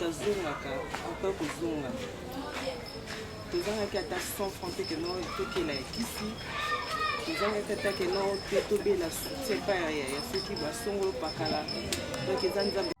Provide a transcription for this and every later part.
tozongaka ata kozonga tozangaki ata 100 franc te ke no tokela ya kisi tozangaki ata ke no te tobela soutien pa ya soki basongolo pakala donc eza nzambe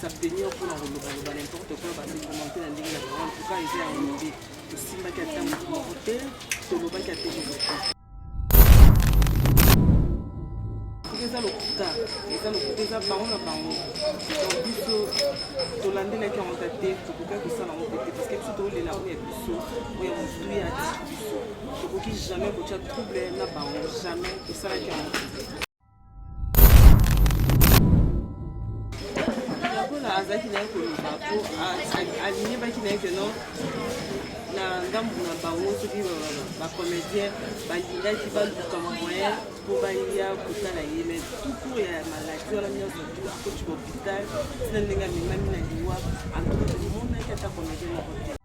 s'abstenir mpo na kolobaloba n'importe quoi basekomante na ndenge na bango antuka eza ya mobe tosimbaki ata moto moko te tolobaki ata eloko te eza lokuta eza lokuta eza bango na bango donc biso tolandelaki yango ta te tokokaki kosala yango te te parce que biso tokolela oyo ya biso oyo ya motu ya biso Tokoki jamais kotya trouble na bango jamais esalaki yango lokola azalaki naye koloba po aliyebaki naye ke non na ngambo na bango soki bacomédien balingaki baluka moyen mpo baya kotala ye mai tuku ya maladi wana nyonso tu akoti kopital tina ndenge amemami na liwa antuka tomonaki ata komedie moko te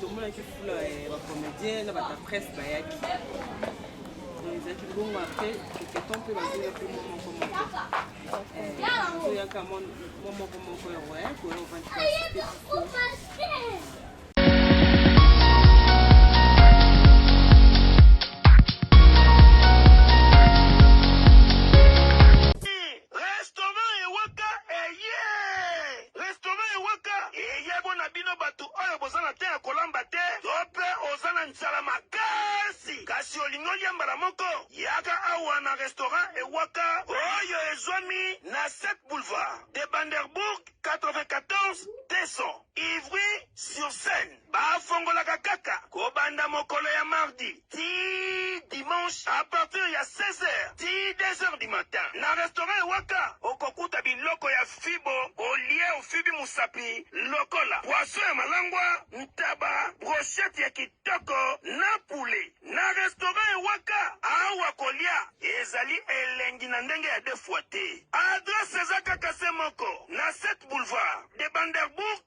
tomonaki fula ya bacomédien na bata presse bayaki ezalaki bongo apres toketon mpe bazoya mpe mwa moko moko toyaka mwa moko moko ya roya koya ovandi Restaurant ewaka eye restaurant ewaka eye bona bino batu oyo boza na temps ya kolamba te to pe oza na nzala makasi kasi olingi olia mbala moko yaka awa na restaurant ewaka oyo ezwami na 7 boulevard de Banderbourg 94 200 Ivry sur Seine. Bafongolaka kaka kobanda mokolo ya mardi tii dimanche à partir ya 16 heures tii 2 heures du matin. Na restaurant ya Waka, okokuta biloko ya fibo olie ofibi mosapi lokola poisson ya malangwa, ntaba, brochette ya kitoko na poulet. Na restaurant ya Waka, awa kolia ezali elengi na ndenge ya deux fois te. Adresse eza kaka se moko, na 7 boulevard de Banderbourg.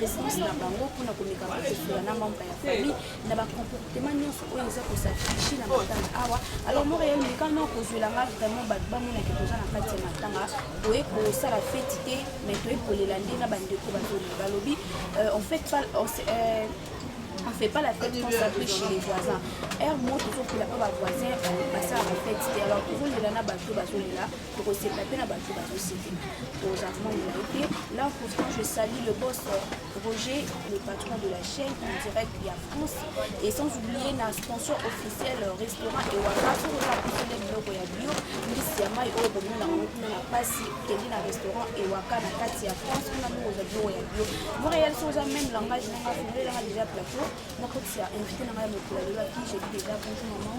response na bango mpona komeka kososola na membre ya famille na bacomportement nyonso oyo eza kosafriche na matanga awa alors montreal meka no kozwela nga vraiment bato bamonake toza na kati ya matanga toye kosala feti te mais toye kolela nde na bandeko bazoli balobi euh, en fait euh, on fait pas la fête qu'on s'appelle chez les voisins heure moko tozokola mpo bavoisin basala bafete te alors tozolela na bato bazolela tokosepela mpe na bato bazosepela toza membre te là pourtant je salue le boss euh, roger le patron de la chaîne en direct ya france et sans oublier na sponsor officiel euh, restaurant ewaka soki oza kosele biloko ya bio mbisi ya mai oyo bomona yango kuna na mpasi kende na restaurant ewaka na kati ya france kuna ndenge ozwa biloko ya bio montréal soki oza même langage nanga fongelelanga déjà plateau nakotisa invité nanga ya mokolo alelaki jebi déjà bonjour maman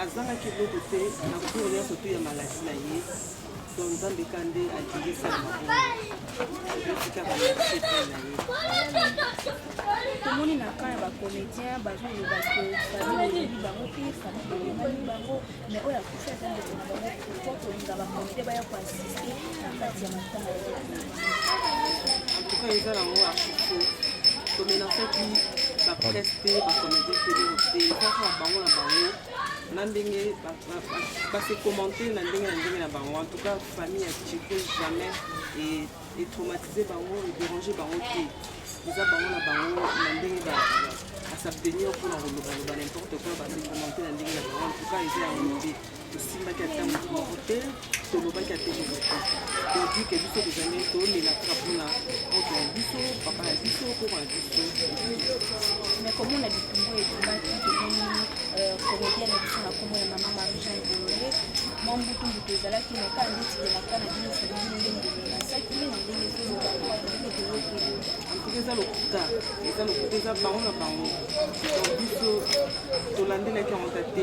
Azangaki eloko te na cour nyonso to ya maladi na ye donc nzambe ka nde alingi esala maboetikaka na marché epai na ye tomoni na kan ya bacomédien bazoloba ke famille eyebi bango te famille eyebani bango mais oyo akufi aza ndeko na bango po kolinga bakomite baya koasiste na kati ya matanga eza nango ya fufu tomenasaki bapresse te bacomédien teleo te eza kaka bango na bango na ndenge base commente na ndenge na ndenge na bango en tout cas famille ya cheko jamais etraumatise bango edérange bango te eza bango na bango na ndenge asabtenir mpona kolobaloba n'importe quoi base commente na ndenge na bango en tout cas eza yango nde tosimbaki ata moto moko te tolobaki ata eloko te todike biso tozali tolela kaka mpona moto ya biso papa ya biso koko ya biso na komona bitumbu ebimaki tomoni euh, komedien na biso na nkombo ya mama marujan bolole mwa mbutumbutu ezalaki na kaa ndeti elaka na bino fabili ndenge emelasaki na ndenge ezoloba antuka eza lokuta eza lokuta eza bango na bango biso tolandelaki yango ta te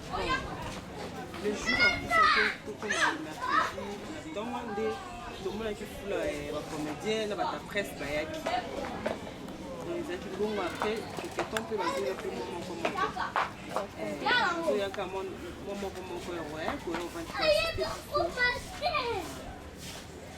le jour akusaki tokoma na mercredi na ntongo nde tomonaki fula ya eh, bacomédien na bata presse bayaki ezalaki bongo apres toketon mpe bazoya mpe mo moko moko toyaka mo moko moko ya roya koya ovantite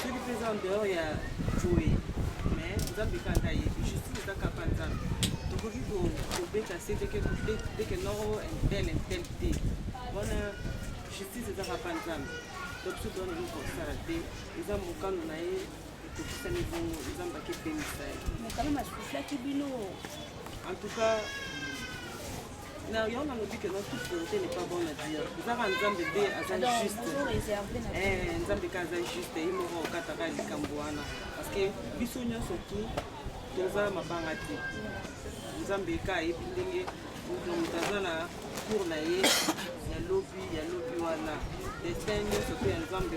soki mpe eza en dehors ya joe mais nzambe kaka yebi justice eza kaka nzambe tokoki kobeta se teke teke noro intel intel te wana justice eza kaka nzambe donc biso towana eloko kosala te eza mokano na ye etokisami bongo nzambe akepemisa ye mokano masuslaki bino en tout cas Na yo na lobi que notre volonté n'est pas bonne à dire. Zara nzambe be aza juste. Eh nzambe ka aza juste ye moko okataka likambo wana parce que biso nyonso tu toza mabanga te. Nzambe ka ayebi ndenge moto moto aza na cour na ye ya lobi ya lobi wana destin nyonso mpe ya nzambe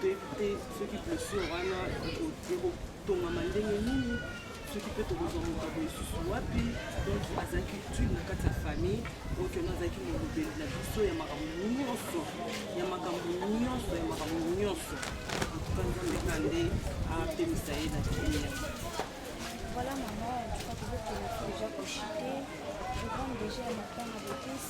toyebi te soki blessure wana ekotongama ndenge nini soki mpe tokozwa moto ya boyesusu wapi donc azalaki utile na kati ya famille okiona azalaki molobeli na biso ya makambo nyonso ya makambo nyonso ya makambo nyonso antuka nzambe ka nde apemisa ye na kimia Voilà maman, en tout cas, vous êtes déjà projeté. Je compte déjà à ma femme avec tous.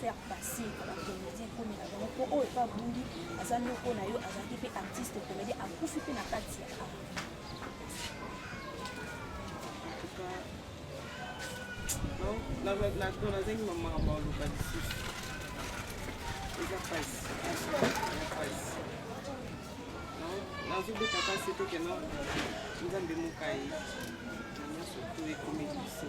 faire passer à la comédie comme la bango po oyo pa bundi aza noko na yo azalaki pe artiste comédie akufi pe na kati ya art nazengi mamaka baoluka lisusu eza pasi pasi nazobeta pasi tokena nzambe mokai na nyonso to ekomeli biso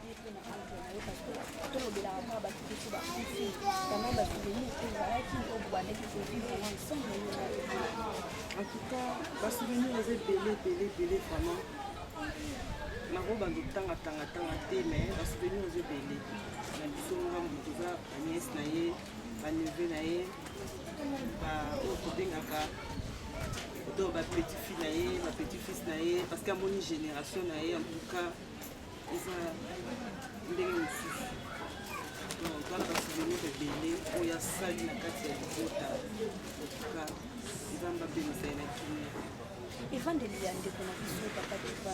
En tout cas, ba souvenirs eza ebele ebele ebele vraiment nakobanda otangatangatanga te mais ba souvenirs eza ebele na biso ngambo toza banies na ye baneve na ye baoyo tobengaka to bapetit fille na ye bapetit fils na ye parce que amoni génération na ye en tout cas eza ndenge mosusu tala basouvenir ebele oyo asali na kati ya libota otuka nzambe apemisa ye na kimia evandeli ya ndeko na biso papa deva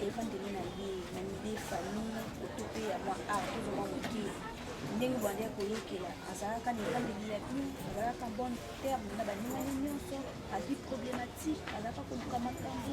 evandeli na ye na mide famille oto mpe ya mwa art tozomwa moke ndenge obandi ya koyokela azalaka na ebandeli ya bino azalaka bonne terme na baningani nyonso azwi problématique azalaka koluka makambo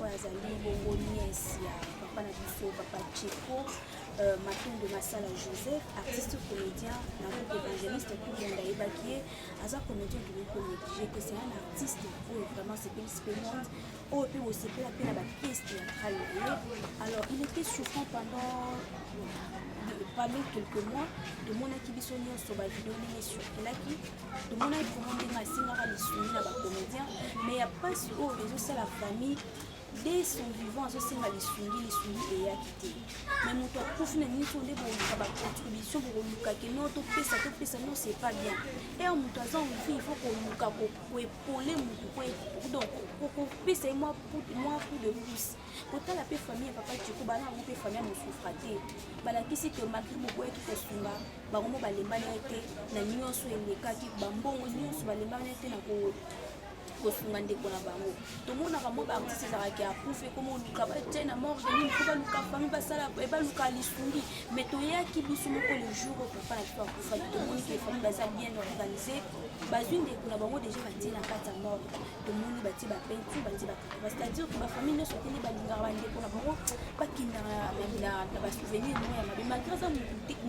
oyo azali bongo nièce ya papa na biso papa Tcheko euh, Matondo Masala Joseph artiste comédien na groupe évangéliste tout le monde ayebaki ye aza comédien tokoki konéglige que c'est un artiste oyo vraiment sepelisi mpe monde oyo mpe bosepela mpe na bapièce théâtrale na ye alors il était souffrant pendant parmi quelques mois tomonaki biso nyonso bavideo ndenge esurkelaki tomonaki kongo ndenge asengaka lisuni na bacomédien mais ya mpasi oyo ezosala famille de son vivant azosenga lisungi lisungi eyaki te me moto akufi na nini nde boluka bacontribution bokoluka ke no topesa topesa no c'est pas bien ere moto aza envi il faut koluka koepole motu donc kopesa ye mwa coup de pouce kotala mpe famille ya papa tiko bana yango mpe famille ya mosufra te balakisi ke malgre boboyaki kosunga bango mo balembani ye te na nyonso elekaki bambongo nyonso balembani ye te na kosunga ndeko na bango tomonaka mwa baartiste ezalaka ya kufa ekoma oluka batie na morge nini po baluka fami basala baluka lisungi mais toyaki biso moko le jour oyo papa na biso akufaki tomoniki fami baza bien organise bazwi ndeko na bango deja batie na kati ya morge tomoni batie bapeinture batie bakaba c'est-à-dire que bafamille nyonso atende balingaka bandeko na bango bakendaka na basouvenir moko ya mabe malgré aza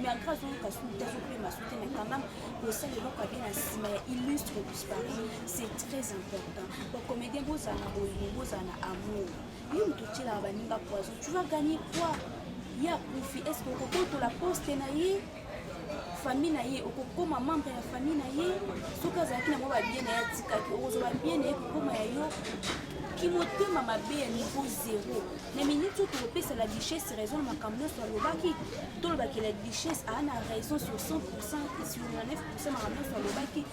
malgré azoyoka sute azopema sute mais quand même kosala eloko abe na nsima ya illustre disparu c'est très important bacomédien bozala na bolingo bozala na amour yo moto otyelaka baninga poison tu vas gagner quoi ye akufi est ce que okobotola poste na ye famille na ye okokoma membre ya famille na ye soki azalaki nango babie na ye atikaki okozwa babie na ye kokoma ya yo kimotema mabe ya niveau zero na miniti oyo tokopesa la duchesse raison na makambo nyonso alobaki tolobaki la duchesse aa na raison sur 100 sur 9 makambo nyonso alobaki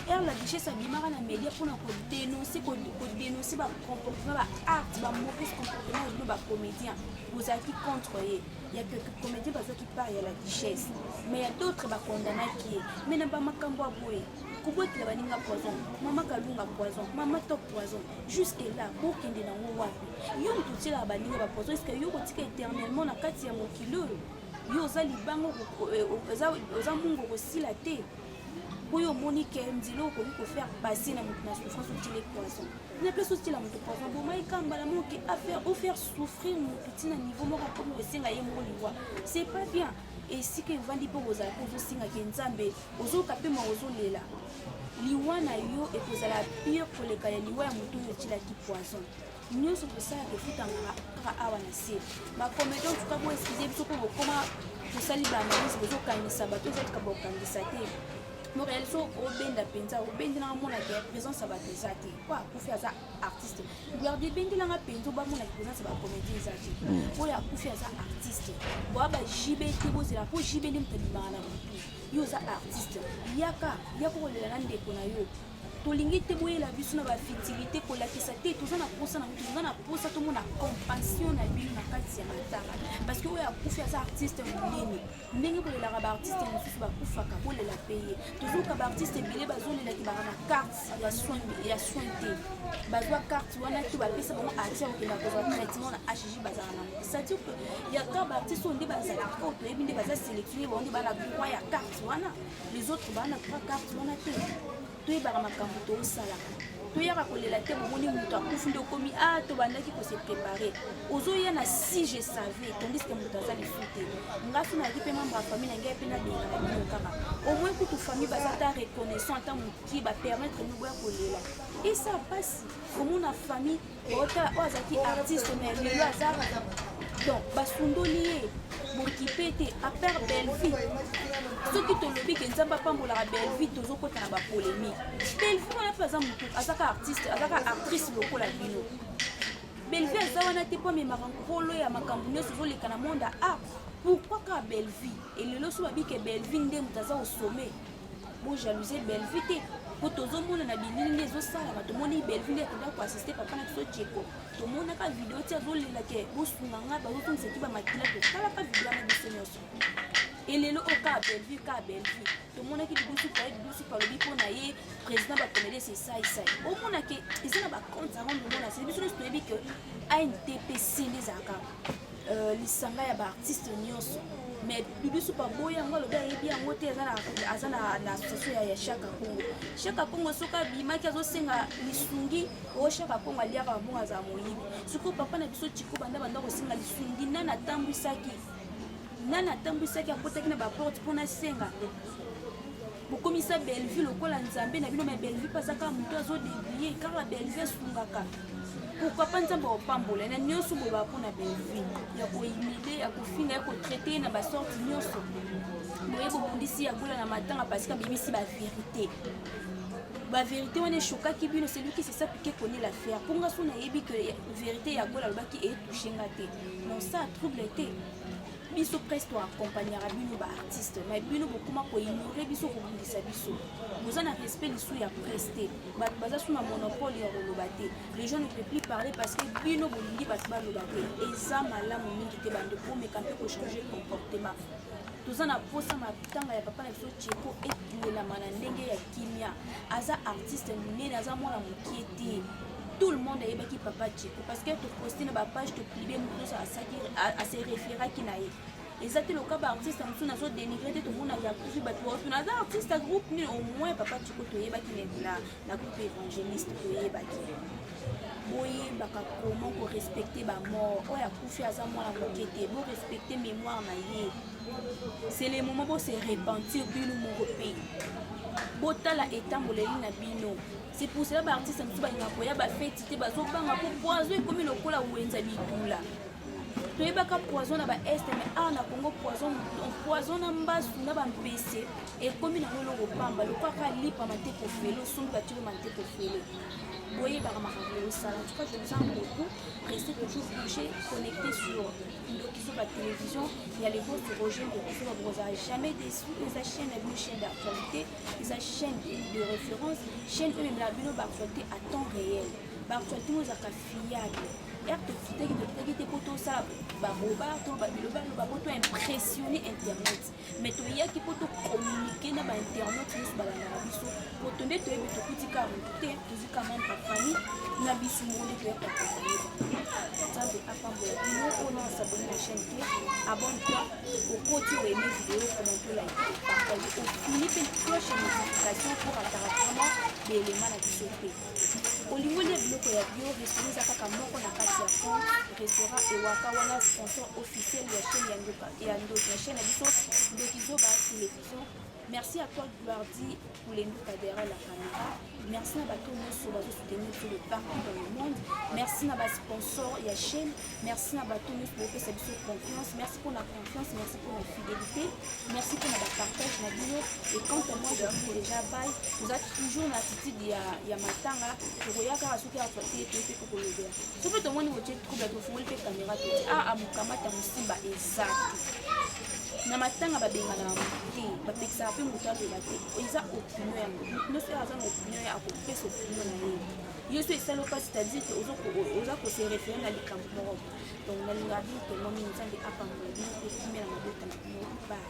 r la duchesse abimaka na media mpona kodenonse kodenonse bacomportement baarte bamauvaise comportement bino bacomédien bozalaki contre ye ya que comédien bazwaki part ya la duchesse mais ya d'autres bakondanaki ye mais na bamakambo ya boye kobwakela baninga poison mama kalunga poison mama top poison jusque là bokende nango wapi yo moto otyelaka baninga bapoison eske yo kotika éternellement na kati ya mokili oyo yo oza libanga eh, oza mungu okosila te oyo omoni ke nzela okoki kofaire passer na moto na souffrance otile poison na place otila moto poison bomai kambala moke afaire ofaire souffrir mutu ntina niveau moko akomi kosenga ye moko liwa c'est pas bien esika evandi mpo kozala mpe ozosengaka nzambe ozoyoka mpe ma ozolela liwa na yo ekozala pire koleka ya liwa ya moto oyo otyelaki poison nyonso tosalaka efutangaka kaka awa na se bacomédien tuka bo eskize biso mpo bokoma tosali baanalyse bozokangisa bato ezatika bokangisa te morealiso obenda mpenza obendi na omona te présence ya bato eza te mpo akufi aza artiste garde ebengela nga mpenza obamona présence ya bacomédie eza te hmm. oyo akufi aza artiste boa ba jb te bozela mpo jb nde moto abimaka na motu yo oza artiste yaka yaka kolela na ndeko na yo tolingi te boyela biso na bafitilité kolakisa te toza na mposa na toza na mposa tomona compassion na bino na kati ya matanga parce que oyo akufi aza artiste monene ndenge bolelaka baartiste mosusu bakufaka bolela mpe ye tozoyoka baartiste ebele bazolelaki baka na carte ya soin ya soin te bazwa carte wana to bapesa bango atia kokenda kozwa traitement na hg bazala na c'est-à-dire que ya ka baartiste oyo nde bazalaka oyo toyebi nde baza sélectionne bango nde bana droit ya carte wana les autres bana droit carte wana te toyebaka makambo tosalaka toyaka kolela te bomoni moto akufi nde okomi a ah, tobandaki kose prépare ozoya na si je savais tandis ke moto aza lifu te nga so nayaki mpe membre ya famille na ngai mpe nabengaka bino kaka omoi kutu famille baza ta reconnaissant ata mokie bapermettre mino boya kolela esa mpasi komona famille Ota oyo azalaki artiste mais lelo aza donc basundoli ye bokipe te apart belvi soki tolobi ke nzambe apambolaka belvi tozokota na bapolémique belvi wana mpe aza motu azaka artiste azaka actrice lokola bino belvi aza wana te mpo amemaka nkolo ya makambo nyonso ezoleka na monde ya art pourkui kaka belvi elelo so babike belvi nde moto aza osome Bo jalousie Bellevue te. Po tozomona na bilili nde ezosalama tomoni Bellevue nde akoda koassiste papa na biso Djeko tomonaka video ti azolela ke bosunga ngai bazotungisa ki bamakila totalaka video na biso nyonso elelo oyo kaka Bellevue kaka Bellevue tomonaki lidusu paye lidusu palobi mpo na ye président bakomede sesaisai omona ke eza na bacompte yango nomona se biso nyonso toyebi ke antp sende ezalaka Euh, lisanga ya baartiste nyonso mais bibi supa boye yango alobi ayebi yango te aza na association ya shaka kongo shaka kongo soki abimaki azosenga lisungi o oh, shaka kongo aliaka bambongo azala moyibi sikoyo papa na biso chiko banda banda kosenga lisungi nani atambwisaki nani atambwisaki akotaki na baporte mpo nasenga bokomisa bellevue lokola nzambe na bino me bellevue mpe aza kaka moto azo debrie kaka bellevue asungaka pourkui mpa nzambe akopambola na nyonso boyebaka mpo na bellevue ya koimile ya kofinga ya kotraite na basorte nyonso boye bobundisi ya gola na matanga parce que abimisi baverité baverité wana eshokaki bino seluki sesa pike koni la faire mpo nga so nayebi ke verité ya gola alobaki etouche nga te non sa trouble te biso presse to accompagnaka bino ba artiste mai bino bokoma koignore biso kobundisa biso boza na respect lisu ya presse te bato baza su na monopole ya koloba te les gens ne peut plus parler parce que bino bolingi bato baloba te eza malamu mingi te bando komeka mpe kochange comportement toza na mposa matanga ya papa na biso cheko etunelama na ndenge ya kimia aza artiste monene aza mwana mokie te tout le monde ayebaki papa cheko parce que toposti na bapage toplibe moto nyonso ase référaki na ye eza te loka baartiste mosusu nazo dénigre te tomonaka kufi bato baoto naza artiste ya groupe nini au moins papa cheko toyebaki na groupe évangéliste toyebaki boyebaka comment korespecte bamort oyo akufi aza mwana moke te borespecte mémoire na ye c'est le moment bose repentir bino moko mpe botala etamboleli na bino C'est pour cela ba artistes mosusu balingaka koya ba feti te bazobanga mpo poison ekomi lokola wenza bitula toyebaka poison na baeste mais awa na congo poison poison na mbasu na bampese ekomi nango eloko pamba lokwaka lipa mateko fele osombi batiko mateko fele boyebaka makambo oyosala en tout cas je vous en beaucoup restez toujours branché connecté sur ndokiso ba télévision ya le host roger ndokiso babokozala jamais déçu eza chaîne ya bino chaîne d'actualité eza chaîne de référence chaîne oyo emela bino baactualité à temps réel baactualité oyo ezalaka fiable ere tokitaki tokitaki te mpo tosala baboba to babilobaloba mpo to impressionne internet mais toyaki mpo tocommunike na bainternet nyonso balandaka biso mpo to nde toyebi tokuti kaka motu te tozwi kaka mane bafamille na biso moko nde toyaka koyeba nzambe apambola bino oyo na asabone na chaîne te abonne toi okoti oyeme video comment to like partage ofini mpe cloche ya notification mpo rataka vraiment baelema na biso mpe olingi olia biloko ya bio restaurant eza kaka moko na kati ya fond restaurant ewaka wana sponsor officiel ya chaîne ya ndoki ya chaîne ya biso ndoki zoba television merci à toi gloire dit Olembi Kadera la Camera. Merci na bato nyonso bazo soutenir biso de partout dans le monde. Merci na ba sponsors ya chaîne. Merci na bato nyonso bopesa biso confiance. Merci mpo na confiance, merci mpo na fidélité. Merci mpo na ba partage na bino. Et quant à moi, je vous déjà bye. Toza toujours na attitude ya ya matanga. Tokoya kaka soki ato te te kolobela soki tomoni botie trouble tofungoli mpe kamera toti aa ah, ah, mokamata mosimba eza te na matanga babenganaka moto te bapekisaka mpe moto aloba te eza opinion yango moto nyonso oyo aza na opinion ye akopesa opinion na ye yo so esali oka c'est-à-dire que oza kose référé na likambo moko donc nalingaka bino tellement mingi nzambe apambola bino mpe kimela mabota na bino ba